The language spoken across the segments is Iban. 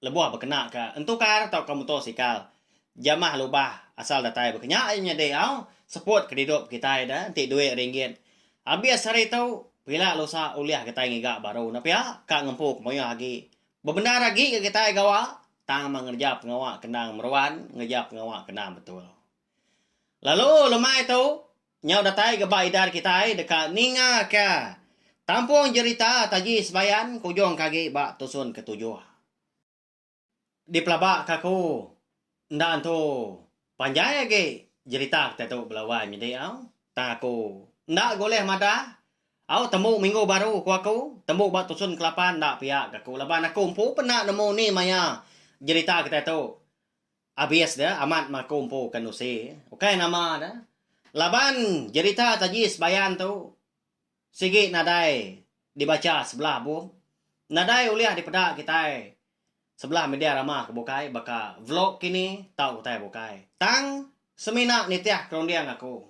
Lebuh bekena ke entukar tauka muto sikal, jamah lubah asal datai baka nya aja nyadi au seput kedidup kitai da enti duit ringgit abis hari tu pila lusa ulih kitai ngiga baru ne pia ka ngempu ke mayuh agi. Bebendar agi ga kitai gawa tang meh ngereja pengawa kendang meruan ngereja pengawa kendang betul. Lalu lemai tu Nyau datai ga ba idar kitai deka ningaka tampung jerita taji sebayan ke ujung ke agi ba tusun ke tujuh. Dipelaba ka aku enda entu panjai agi jerita kitai tu bela wai menyedi au tang aku enda ga ulih madah au tembu minggu baru ku aku tembu ba tusun ke lapan enda pia ga aku laban aku empu pena nemu ni maya jerita kitai tu Abis dia amat maku empu ke nusi, ukai nama dia. Laban jerita taji sebayan tu sigi nadai dibacha sebelah bum, nadai ulih dipeda kitai sebelah media rama ke bukai baka vlog kini tau utai bukai. Tang semina nitih kerunding aku.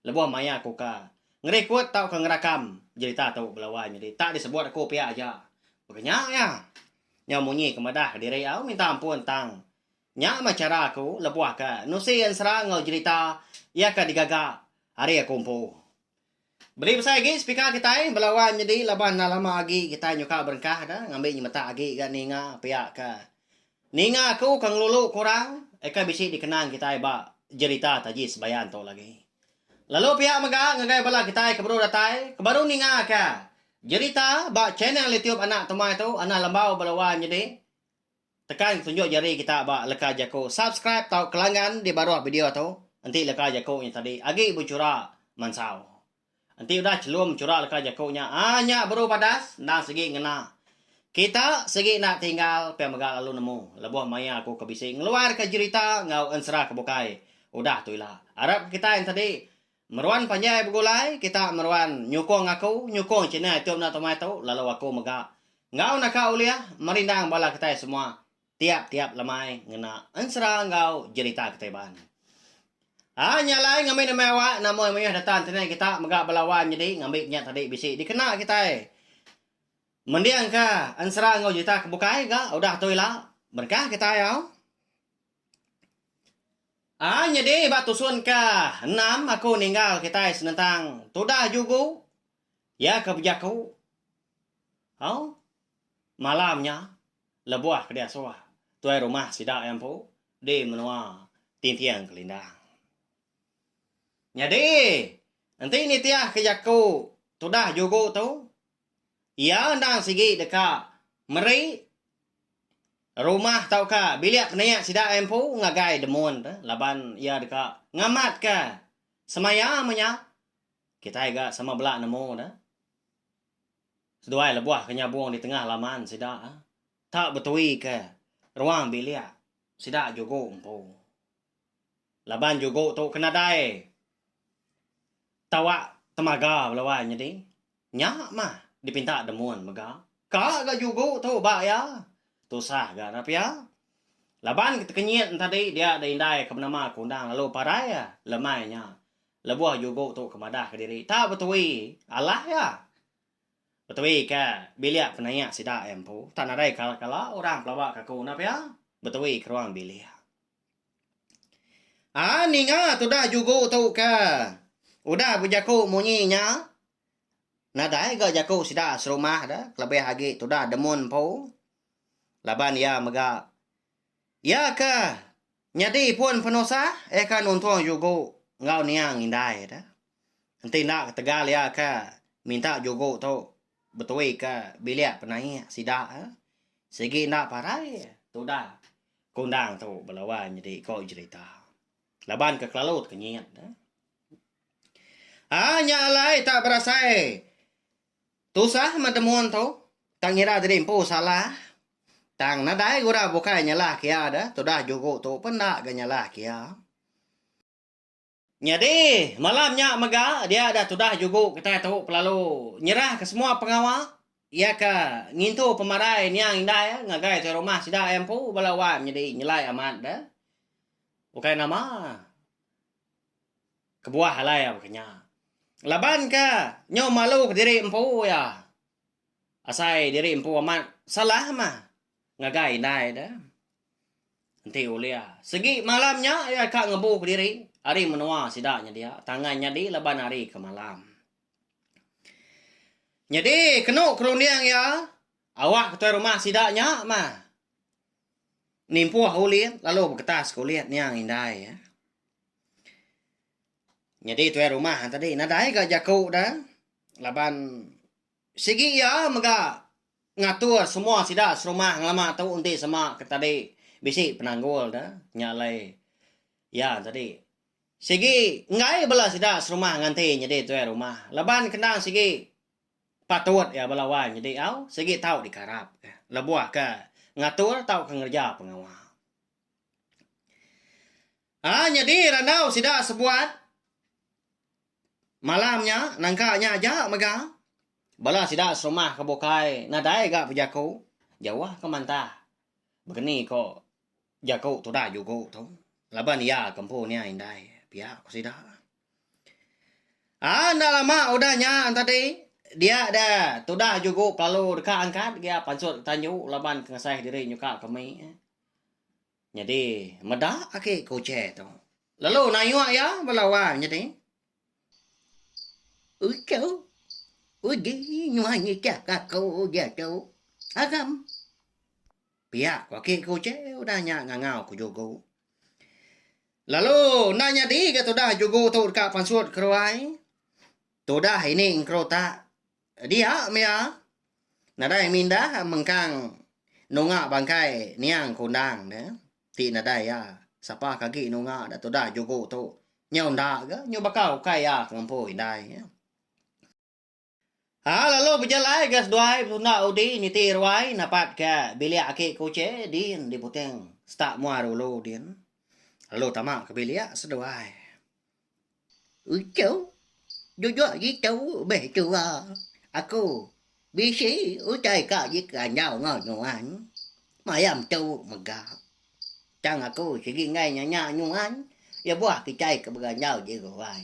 Lebuh maya aku ka ngerikut tauka ngerakam jerita tu bala wai nyadi tak disebut aku pia aja. Baka nya iya nyau munyi ke madah kediri au minta ampun tang nya meh chara aku lebuh ke nusi ensera enggau jerita iya ke digaga ari aku empu. Beli besai agi speaker kitai bala wai nyadi laban enda lama agi kitai nyuka berengkah da ngambi nyemetak agi ga ninga pia ke. Ninga aku ke ngelulu ke orang eka bisi dikenang kitai ba jerita taji sebayan tu lagi. Lalu pia mega ngagai bala kitai ke baru datai ke baru ninga ke jerita ba channel YouTube Anak Tumai tu Anah Lembau bala wan nyadi tekan tunjuk jari kita ba leka jaku subscribe tau kelangan di baruh video tu enti leka jaku nya tadi agi bechura mansau. Enti udah chelum chura leka jaku nya ah nya beru badas endang sigi ngena. Kita sigi enda tinggal pia mega lalu nemu lebuh maya aku ke bisi ngeluarka jerita enggau ensera ke bukai udah tu ila. Arap ke kitai enti meruan panjai begulai kita meruan nyukung aku nyukung channel youtube enda temai tu lalu aku mega enggau naka ulih merindang bala kitai semua Tiap-tiap lemai ngena ensera enggau jerita kitai Iban. A nya alai ngambi nembiak awak namoy mayuh data internet kita mega bala wan nyadi ngambi nya tadi bisi dikena kitai mendingka ensera enggau jerita ke bukai ga udah tu ila berengkah kitai au. A nyadi ba tusun ke enam aku ninggal kitai senentang tudah jugu iya ke bejaku au malam nya. Lebuh ke diasuh tuai rumah sida iya empu di menua Tinting Kelindang. Nyadi, enti nitihka jaku tudah jugu tu, iya endang sigi deka meri rumah tauka bilik penia sida iya empu ngagai demun tu laban iya deka ngamatka semaya menya kitai ga sama bela nemu ne. Seduai lebuh ke nyabung di tengah laman sida tak betuika ruang bilik sida jugu empu. Laban jugu tu ke nadai tawa temaga belawai nyadi nya mah dipinta demun mega ka ga jugu tu ba iya. Tusah ga nya pia laban ketekenyit enti tadi dia da indai ke penama ke undang lalu parai lemai nya Lebuh Jugo tu ke madah ke diri tau betui alah iya. Betui ke bilik penaia sida iya empu tau nadai kala kala orang pelaba ke aku enda pia betui ke ruang bilik. A ninga tudah Jugo tu ke udah bejaku munyi nya nadai ga jaku sida serumah de kelebih agi tudah demun empu laban iya mega Iya ke nyadi pun penusah iya ke nuntung jugu enggau niang indai tu. Enti enda ketegal iya ke minta jugu tu betui ke bilik penaik sida sigi enda parai tudah kundang tu belawan nyadi iko jerita laban ke kelalu tekenyit. Haa nya alai tak berasai Tusah meh demun tu, tang ira jadi empu salah. Tang nadai guna bukai nyalahka iya deh, tudah juku tu pun enda ga nyalahka iya. Nyadi, malam nya mega dia deh tudah juku kitai tu belalu nyerahka semua pengawa iya ke ngintu pemarai niang indai iya ngagai tuai rumah sida iya empu bala wai menyadi nyelai amat deh. Bukai nama. Kebuah alai iya baka nya. Laban ka nyau malu ke diri empu iya. Asai diri empu amat salah mah ngagai indai de. Enti ulih segi malam nya iya ka ngebu ke diri ari menua sida nyedia tangan nyadi laban hari ke malam. Nyadi kenu kerunding iya awak ke tuai rumah sida nya mah. Nimpuh ulit lalu beketas ke ulit niang indai ya. Nyadi tuai rumah tadi nadai ga jaku da laban sigi iya mega ngatur semua sida serumah ngelama tu enti sema ke tadi bisi penanggul da nya alai iya tadi. Sigi enggai bala sida serumah nganti nyadi tuai rumah laban kendang sigi patut iya bala wai nyadi au sigi tau dikarap lebuh ke ngatur tauka ngereja pengawa. Ai nyadi randau sida sebuat malam nya nangka nya aja mega bala sida serumah ke bukai nadai ga bejaku jauh ke mantah begeni ko jaku tudah jugo tu laban iya ke empu niai indai pia ko sida. Ah enda lama udah nya tadi dia da tudah jugu pelalu deka angkat gia pansut tanju laban pengasai diri nyuka ke mi nyadi meda agi ku chair tu lalu nayuh iya bala wang nyadi uchu uji nyuai ngicha ka aku gia tu agam pia agi ku chair udah nya ngangau ku jugu. Lalu enda nyadi ga tudah jugu tu deka pansut keruai. Tudah ini engkeru tak dia mia nadai mindah mengkang nunga bangkai niang kundang dia ti nadai iya sapa ke agi nunga da tudah jugu tu nyau enda ga nyau baka ukai iya ke ngempu indai. Ha lalu bejalai ga seduai besunda udi niti ruai napat ga bilik aki kuche din di Puting setak mua dulu din lalu tama ke bilik seduai. Uchu duduk ngitu meh tua aku bisi utai ka ji keranjau enggau nuan maya metu mega tang aku sigi enggai nanya nuan lebuh kitai ke beranjau ji ruai.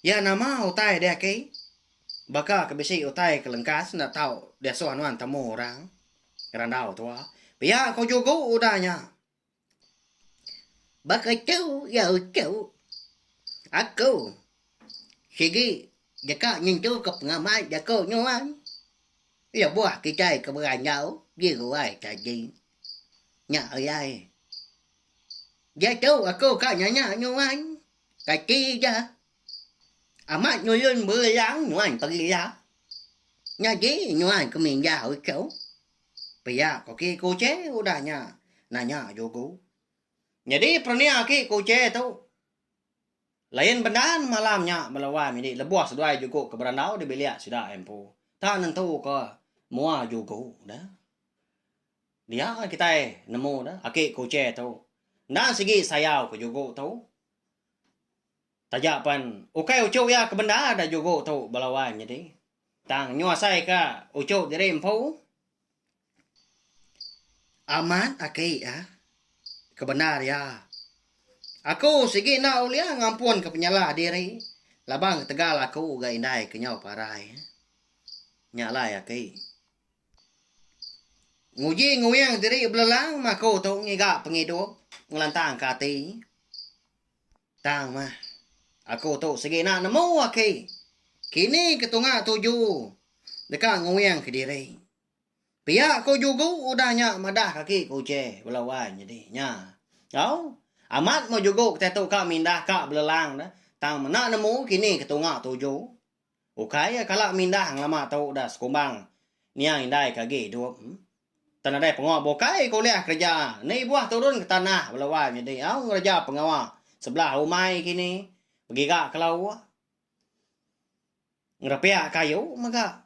Iya nama utai deh aki. Baka ke bisi utai ke lengkas enda tau diasuh nuan temu orang ngerandau tua. Pia ko jugo udah nya. Baka tu iya uchu aku sigi deka nyentu ke pengamak jaku nuan lebuh kitai ke berandau di ruai tadi. Nya ayai. Diatu aku ka nanya nuan, kati ja? Amat nulun berelang nuan pagi ila. Nyadi nuan ke mindah uchu? Pia koki kuche udah nya nanya jugu. Nyadi perenia aki kuche tu, lain bendan malam nya bala wai midi lebuh seduai jugu ke berandau di bilik sida empu. Tak nentuka mua jugu da. Dia kitai nemu ne aki kuche tu enda sigi sayau ke jugu tu. Taja pen ukai uchu iya ke bendar da jugu tu bala wan nyadi tang nyu asai ka uchu diri empu amat aki iya ke bendar iya. Aku sigi enda ulih ngampun ke penyalah diri laban ketegal aku ga indai ke nyau parai. Nya alai aki. Nguji nguyang diri belelang maku tu ngiga pengidup ngelantangka ati. Tang mah, aku tu segena nemu aki. Kini ke tunga tuju deka nguyang kediri. Pia ku jugu udah nya madah kaki ku uche bela wai nyadi nya. Au, amat meh jugu kitai tu ka mindah ka belelang dah. Tang mena nemu kini ke tunga tuju. Ukai iya kala mindah ngelama tu udah sekumbang niang indai ke agi idup. Tan nadai pengawa bukai ke ulih kereja ni buah turun ke tanah belawai nyadi au ngereja pengawa sebelah umai kini begiga ke lawa, ngerepiak kayu mega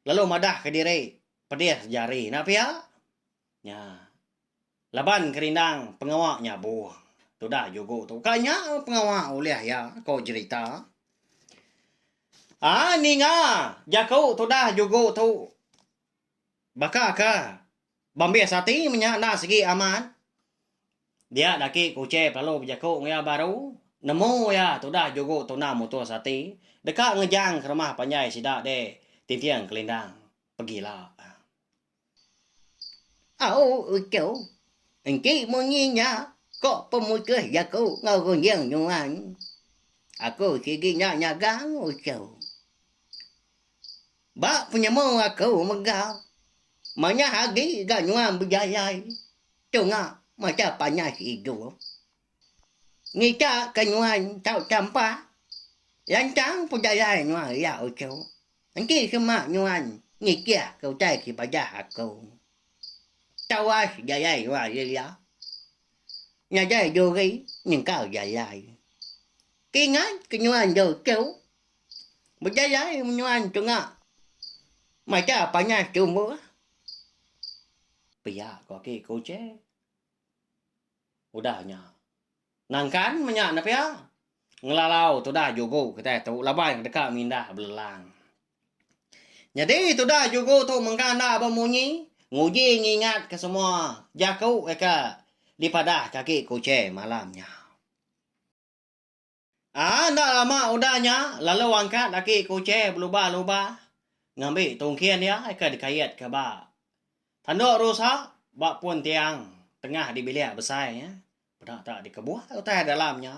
lalu madah ke diri pedis jari enda pia. Nya. Laban kerindang pengawa nya buh. Tudah jugo tu. Ka nya pengawa ulih iya ko jerita. A ninga jaku tudah jugo tu. Baka ka bambis ati menya enda sigi amat. Dia daki kuchei pelalu bejaku enggau iya baru. Nemu iya tudah jugo tuna mutus ati. Deka ngejang ke rumah panjai sida deh tinting kelindang. Pegila. Au uchu, enti munyi nya ko pemutus jaku enggau runjung nuan. Aku sigi nya nyaga uchu. Ba penyemu aku mega manyah agi ga nuan bejayai tunga macha panas idup. Nita ke nuan tau tampa lantang ku jalai nuan ria uchu. Enti sema nuan nitih ke utai ti padah aku. Tawas jalai nuan ri iya. Nadai duri nyengkal jalai. Kingat ke nuan dau uchu. Bejalai men nuan tunga mata panas tumbuh. Pia ko aki ku uche. Udah nya. Nangkan menya ne pia, ngelalau tudah jugu kitai tu laban iya deka mindah belelang. Nyadi tudah jugu tu mengkang enda bemunyi, nguji ngingatka semua jaku deka dipadahka agi Kuching malam nya. Aa enda lama udah nya lalu angkat aki ke Uche beluba-luba ngambi tungkin iya ke dikait ke ba tanduk rusa ba pun tiang tengah di bilik besai nya peda tak dikebuai utai dalam nya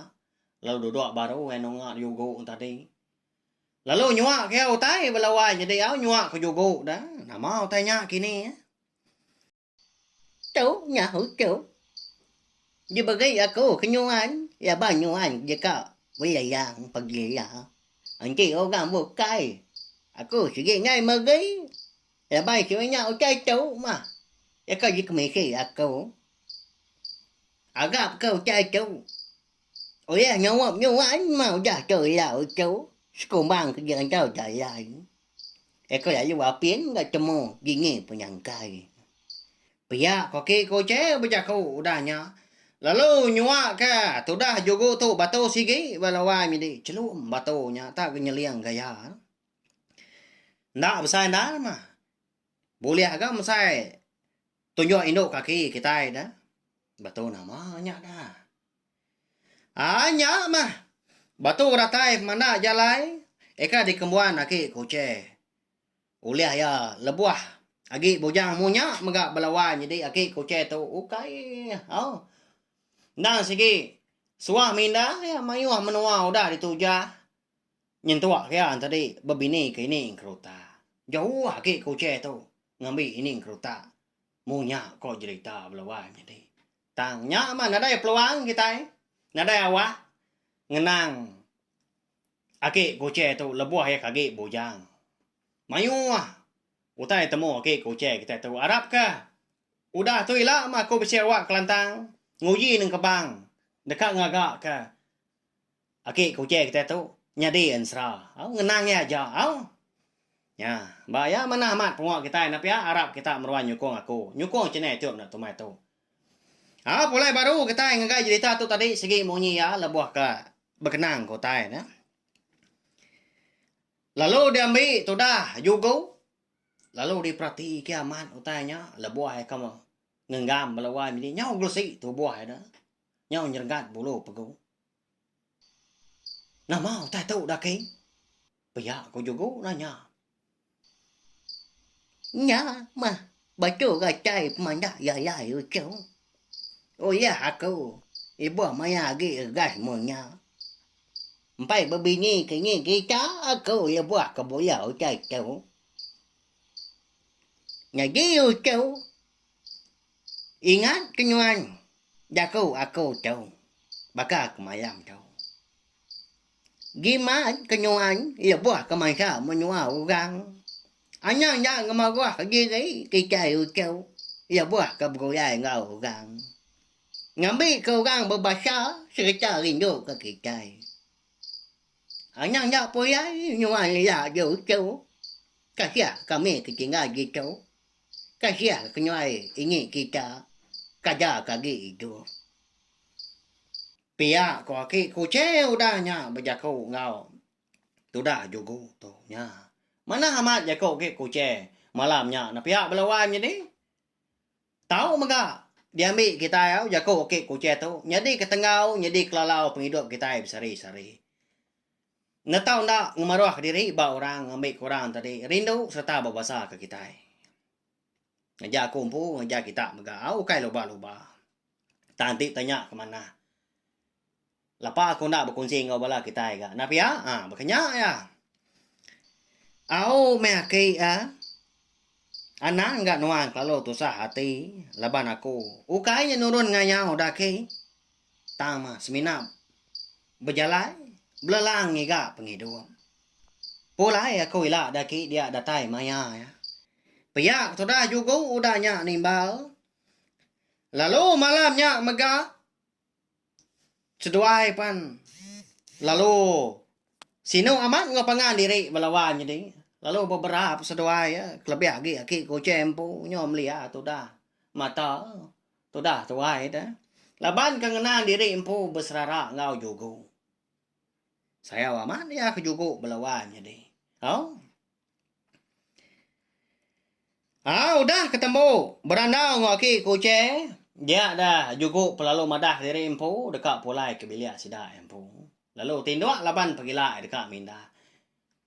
lalu duduk baru iya nunga jugu tadi. Lalu nyua ke iya utai bela wai nyedi au nyua ke jugu da nama utai nya kini. Tu nyaut tu diberi aku ke nyuan iya ba nyuan deka beleyang pagi iya. Enti orang bukai aku sigi nai meri laban sida nya utai tu mah deka dikemisi aku. Arap ke utai tu ulih nyaup nyuan mah udah tu iya tu sekumbang ke diantar dalan. Eko lalu apin enggau temu dini penyangkai. Pia koki ko Chee bejaku udah nya lalu nyua ke tudah jugu tu batu sigi ba lawai midi chelum batu nya tak ke nyeling gaya. Enda besai enda mah bulih ga mesai tunjuk indu kaki kitai da batu nama nya da. Ai nya mah. Batu datai pemanda jalai eka dikembuan aki Kuche. Ulih iya lebuh agi bujang munya mega belawan nyadi aki Kuche tu ukai au. Endang sigi suah minda iya mayuh menua udah dituja nyentuk iya enti tadi bebini ke ini engkeruta. Jauh aki Kuche tu ngambi ini engkeruta munya ko jerita belawan nyadi. Tang nya mah nadai peluang kitai nadai awak ngenang Aki Kuche tu lebuh iya ke agi bujang. Mayuh utai temu Aki Kuche kitai tu arapka udah tu ila mah aku bisi awak Kelantang nguji nengkebang deka ngagaka Aki ke uche kitai tu nyadi ensera. Au ngenang iya aja au. Nya, ba iya manah amat pengawa kitai enda pia arap kita meruan nyukung aku. Nyukung channel youtube enda tumai tu. Au pulai baru kitai ngagai jerita tu tadi sigi munyi iya lebuh ka bekenang ke utai ne. Lalu diambi tudah jugu lalu diperati ke amat utai nya lebuh iya ka ngenggam bala wai mini nyau gelesi tubuh iya da. nyau nyerengat bulu pegu. Nama utai tu Daking? Pia ku Jugu nanya. Nya mah batu rachai pemanda Yayai Uchung. Uyah aku ibuh maya agi regas mun nya. Empai bebini ke ngi kita aku lebuh ke buya utai tu. Nyadi Uchu Ingat ke nuan jaku aku tu baka aku mayam tu. Gimat ke nuan lebuh ke mansa menua orang. Anang enda ngemeroh diri kitai uchu lebuh ke begulai enggau orang. Ngambi ke orang bebasa sereta rindu ke kitai. Anang enda pulai nuan ela uchu. Kasiah kami ke tinggal ditu. Kasiah ke nyuai ingi kita kaja ke agi idup. Pia ko aki kuching udah nya bejaku enggau tudah jugu tu nya. Manah amat jaku ki kuching malam nya na pia bala wan nyadi. Tau mega diambi kitai au jaku aki kuching tu nyadi ketenggau nyadi kelalau pengidup kitai besari sari. Enda tau enda ngemaruhka diri ba orang ngambika orang tadi rindu sereta bebasaka kitai. Ngereja aku empu ngereja kita mega ukai luba-luba. Tang ti tanya ke manah. Lapa aku enda bekunsi enggau bala kitai ga enda pia a baka nya iya. Au meh aki a anang ga nuan kelalu tusah ati laban aku ukai nya nurun ngayau daki. Tang mah semina bejalai belelang ngiga pengidung. Pulai aku ila da ki dia datai maya iya. Pia ke tudah jugu udah nya nimbal. Lalu malam nya mega seduai pan lalu sinu amat enggau pangan diri bala wan nyadi lalu bebera seduai iya kelebih agi aki ke uchai empu nyau melia tudah mata. Tudah tuai da. Laban ke ngena diri empu beserara enggau jugu. Sayau amat iya ke jugu bela wai nyadi. Au. Au udah ke tembu berandau enggau aki kuche dia da jugu pelalu madah diri empu deka pulai ke bilik sida empu. Lalu tinduk laban pegila deka mindah.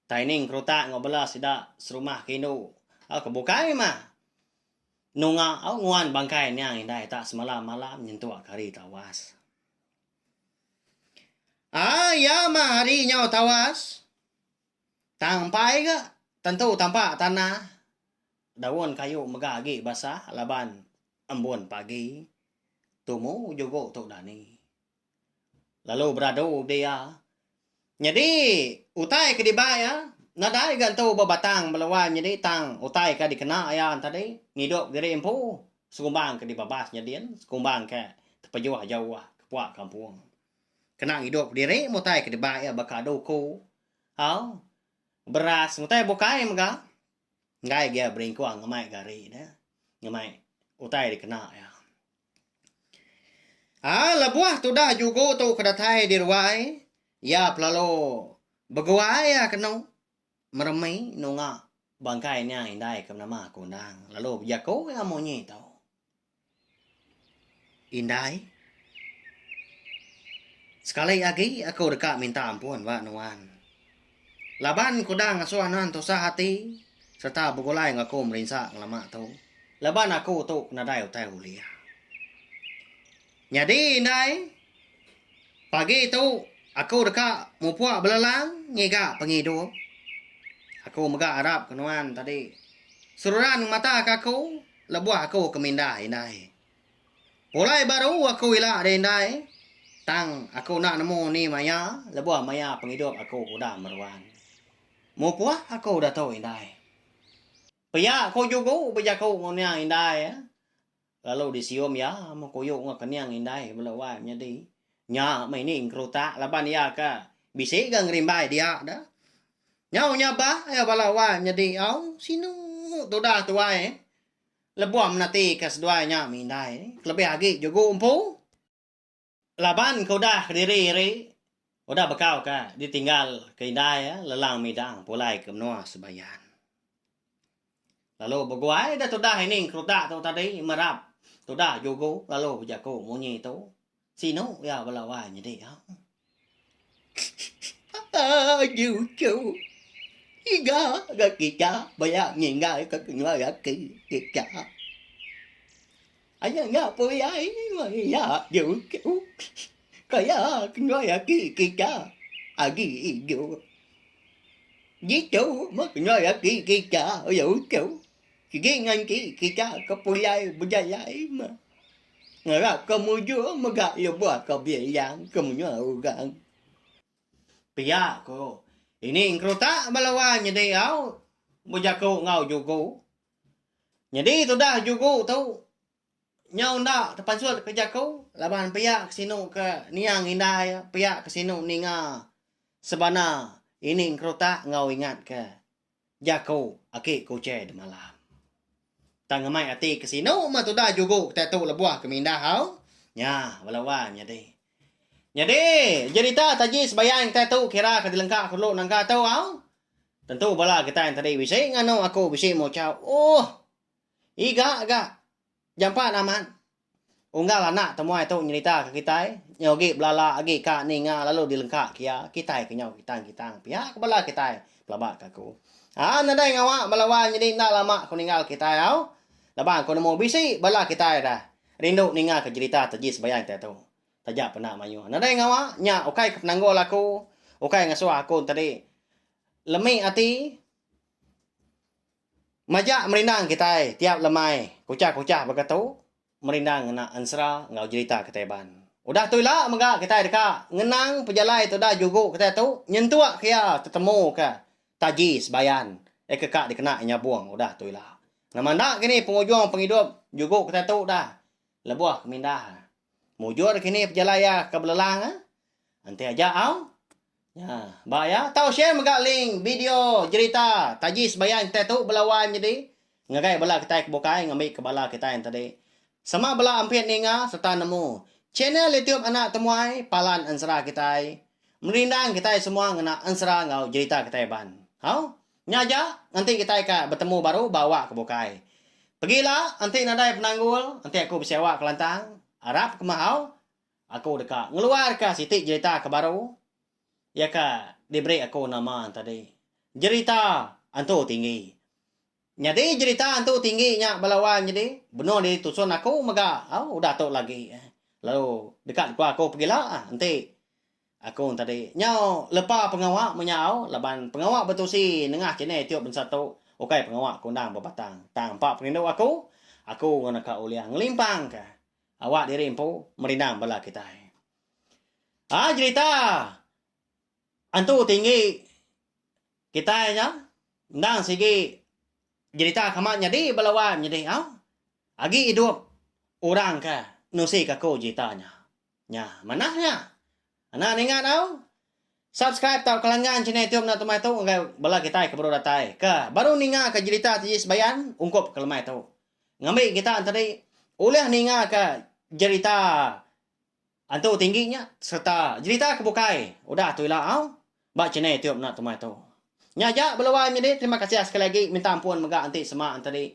Taining kerutak enggau bela sida serumah ke indu. Au ke bukai mah. Nunga au nguan bangkai niang indai tak semalam malam nyentuk kari tawas. Ai ya mah hari nyau tawas. Tang empai ga tentu tampa tanah. Daun kayu mega agi basah laban embun pagi. Tumu jugo tu dani. lalu beradu di iya. Nyadi utai ke dibai iya nadai ga entu ba batang meluan nyadi tang utai ka dikena iya tadi ngidup diri empu sekumbang ke dibabas nyadin sekumbang ke tepejuh jauh kepuak kampung kena ngidup diri mun utai ke dibai iya baka duku au beras utai bukai mega enggai ga iya beringkung ngemai gari ne ngemai utai dikena iya. Ah, lebuh tudah jugu tu ke datai di ruai, iya pelalu beguai iya ke enu meremi nunga bangkai nya indai ke nama ke undang lalu bejaku iya munyi tu. Indai, sekali agi aku deka minta ampun ba nuan. Laban ku dang ngasuh anan tusah ati sereta begulai enggau aku merinsa ngelama tu laban aku tu ke nadai utai ulih. Nyadi indai pagi tu aku deka mupuk belelang ngiga pengidup. Aku mega arap ke nuan tadi seruran ngemataka aku lebuh aku ke mindah indai. Pulai baru aku ila deh indai tang aku enda nemu ni maya lebuh maya pengidup aku ke udah meruan. Mupuh aku udah tu indai. Pia ku jugu bejaku enggau niang indai lalu disium iya mekuyu enggau kening indai ke bela wai menyadi. Nya meh ini engkerutak laban iya ke bisi ga ngerimbai dia da. Nyau nya bah iya bala wai menyadi au sinu tudah tuai. Lebuh menatika seduai nya mindai ni kelebih agi jugu empu laban ke udah kediri iri udah bekau ka ditinggal ke indai lelang midang pulai ke menua Sebayan. Lalu beguai deh tudah ini ngerutak tu tadi merap tudah jugu lalu bejaku munyi tu Sinu iya bala wai nyedi ha. Agi uchu. Iga ga kita baya ninggal ke kenyua laki kita. Agi ga puyai iya agi uchu. Kaya kenyua laki kita agi idup. Jitu meh kenyua laki kita iya uchu. Sigi nganti kita ke pulai bejalai meh ngarapka mujur mega lebuhka bilang ke menua orang. Pia ku ini engkerutak bala wai nyadi au bejaku enggau jugu. Nyadi tudah jugu tu nyau enda tepansut ke jaku laban pia ke sinu ke niang indai pia ke sinu ninga sebana ini engkerutak enggau ingatka. Jaku aki ku Uche demalam. Tang amai ati ke sinu meh tuda jugu kitai tu lebuh ke mindah hau. Nya bala wan nyadi. Nyadi jerita taji sebayan kitai tu kira ke dilengka ku dulu nangka tu hau. Tentu bala kitai tadi bisi nganu aku bisi muchau. Ohh. Iga ga. Jampat amat. Unggal anak temuai tu nyeritaka kitai, nyau agi belala agi ka ninga lalu dilengka ke iya, kitai ke nyau kitang-kitang pia ke bala kitai pelaba ke aku. A nadai ngawa bala wai nyadi enda lama aku ninggal kitai au. Laban aku nemu bisi bala kitai dah rindu ninga ke jerita Taji Sebayang kitai tu. Taja penda mayuh. Nadai ngawa nya ukai ke penanggul aku, ukai ngasuh aku enti tadi lemi ati. Majak merindang kitai tiap lemai kuchah-kuchah baka tu merindang ngena ensera enggau jerita kitai ban. Udah tu ila mega kitai deka ngenang pejalai tu udah jugu kitai tu nyentuk ke iya tetemu ke taji sebayan iya ke ka dikena iya nyabung udah tu ila. Nama enda kini pengujung pengidup jugu kitai tu udah lebuh ke mindah. Mujur kini pejalai iya ke belelang enti aja au. Nya, ba iya, tau share mega link bideo jerita Taji Sebayang Kitai Tu Bela Wai Menyedi ngagai bala kitai ke bukai ngambika bala kitai enti tadi sama bela ampit ninga sereta nemu channel YouTube Anak Temuai Palan Ensera kitai merindang kitai semua ngena ensera enggau jerita kitai ban. Hau, nya aja enti kitai ka betemu baru ba awak ke bukai. Pegila enti nadai penanggul enti aku besewa Kelantang, arap kemahau Aku deka ngeluarka siti jerita ke baru iya ke diberi aku nama tadi Jerita Entu Tinggi. Nyadi jerita Entu Tinggi nya bala wang nyadi benung diri tusun aku mega au udah tu lagi lalu deka dikeluar aku pegila enti aku tadi nyau lepa pengawa meh nya au laban pengawa betusi nengah channel youtube bansa tu ukai pengawa kundang bebatang tang empa perindu aku, aku enggau naka Ulih ngelimpangka. Awak diri empu merindang bala kitai. Ai jerita Antu Tinggi kitai nya endang sigi jerita ke amat nyadi bala wai menyedi au. Agi idup orang ke nusi kaku jerita nya. Nya manah nya. Anak ninga tau. Subscribe tau ke langgan channel YouTube anak tumai tu ngagai bala kitai ke baru datai ke baru ninga ke jerita T.J. Sebayan ungkup ke lemai tu. Ngambi kita enteri ulih ninga ke jerita Antu Tinggi nya serta jerita ke bukai udah tu ila au ba channel YouTube anak tumai tu. Nya aja beluai menyadi terima kasih sekali agi minta ampun mega enti sema enteri